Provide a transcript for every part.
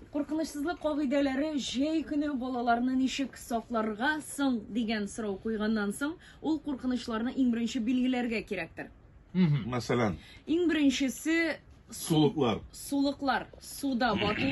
Куркынычсызлык кагыйдәләре җәй көне балаларны ничек сакларга соң дигән сорау куйганнан соң, ул куркынычларны иң беренче билгеләргә кирәктер. Мәсәлән. Иң беренчесе сулыклар. Сулыклар, суда бату.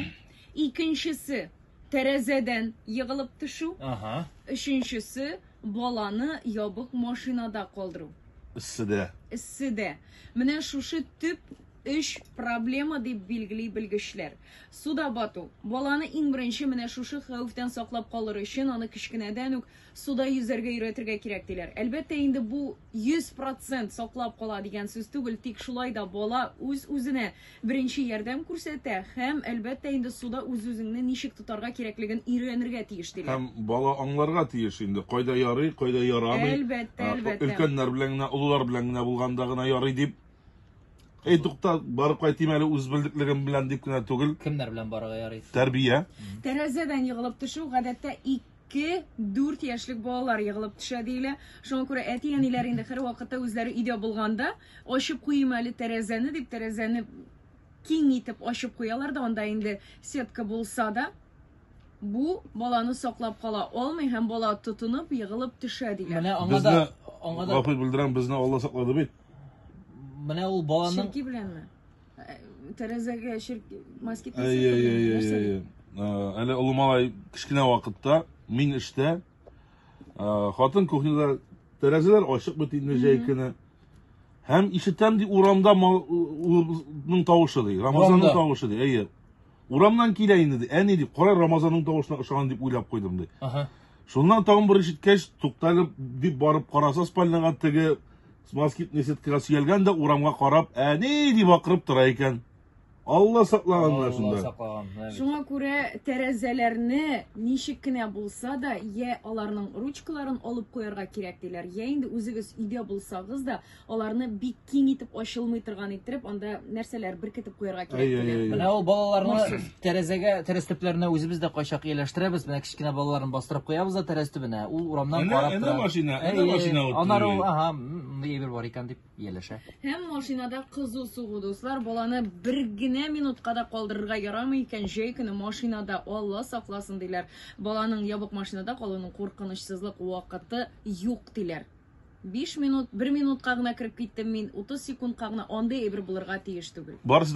Икенчесе тәрәзәдән егылып төшү. Ага. Өченчесе баланы ябык машинада калдыру. Эсседә. Эсседә. Менә шушы төп Өч проблема дип билгели белгечләр. Суда бату. Баланы иң беренче менә шушы хәвефтән саклап калыр өчен аны кечкенәдән үк суда йөзәргә өйрәтергә кирәк, диләр. Әлбәттә, инде бу 100 процент саклап кала дигән сүз түгел, тик шулай да бала үз-үзенә беренче ярдәм күрсәтә һәм, әлбәттә, инде суда үз-үзеңне ничек тотарга кирәклеген өйрәнергә тиеш, диләр. Һәм бала аңларга тиеш инде, кайда ярый, кайда ярамый. Әлбәттә, әлбәттә. Өлкәннәр белән генә, олылар белән генә булганда гына ярый дип. Эй, тукта, барып кайтыйм әле үз белдеклегем белән дип кенә түгел. Кемнәр белән барырга ярый? Тәрбия. Тәрәзәдән егылып төшү гадәттә 2-4 яшьлек балалар егылып төшә диелә. Шуңа күрә әти-әниләр инде һәрвакытта үзләре өйдә булганда ачып куйыйм әле тәрәзәне дип тәрәзәне киң итеп ачып куялар да анда инде сетка булса да бу баланы саклап кала алмый һәм бала тотынып егылып төшә дигән. Менә аңа да Безне, аңа да гафу белдерәм, безне Алла саклады бит. Менә ул баланың Ширки беләнме? Ә, Тәрәзәгә ширк москит Әй, әй, әй, әй, нәрсә әй, бит? әй. Ә, Әле олы малай кечкенә вакытта мин эштә, ә, хатын кухняда тәрәзәләр ачык бит инде җәй көне. Һәм ишетәм ди урамда мал- улның тавышы ди, Рамазанның Урамда. тавышы ди. Әйе. Урамнан килә инде ди. Әни ди, кара Рамазанның тавышына ошаган дип уйлап куйдым ди. Ага. Шуннан тагын бер ишеткәч, туктале дип барып караса спальняга теге москитный сеткага сөялгән дә урамга карап, әни дип акырып тора икән. Алла саклаган менә шунда. Шуңа күрә тәрәзәләрне ничек кенә булса да, я аларның ручкаларын алып куярга кирәк диләр, я инде үзегез өйдә булсагыз да, аларны бик киң итеп ачылмый торган иттереп анда нәрсәләр беркетеп куярга кирәк. Менә ул балаларны тәрәзәгә, тәрәз төпләренә үзебез дә кайчак ияләштерәбез. Менә кечкенә балаларын бастырып куябыз да тәрәз төбенә. Ул урамнан карап тора. Әнә машина, әнә машина ут. Анар ул, ага, мондый әйбер бар икән дип ияләшә. Һәм машинада кызу сугу, дуслар, баланы бер генә минутка да калдырырга ярамый икән. Җәй көне машинада Алла сакласын диләр. Баланың ябык машинада калуның куркынычсызлык вакыты юк диләр. Биш минут, бер минутка гына кереп киттем мин, утыз секундка гына, андый әйбер булырга тиеш түгел. Барысы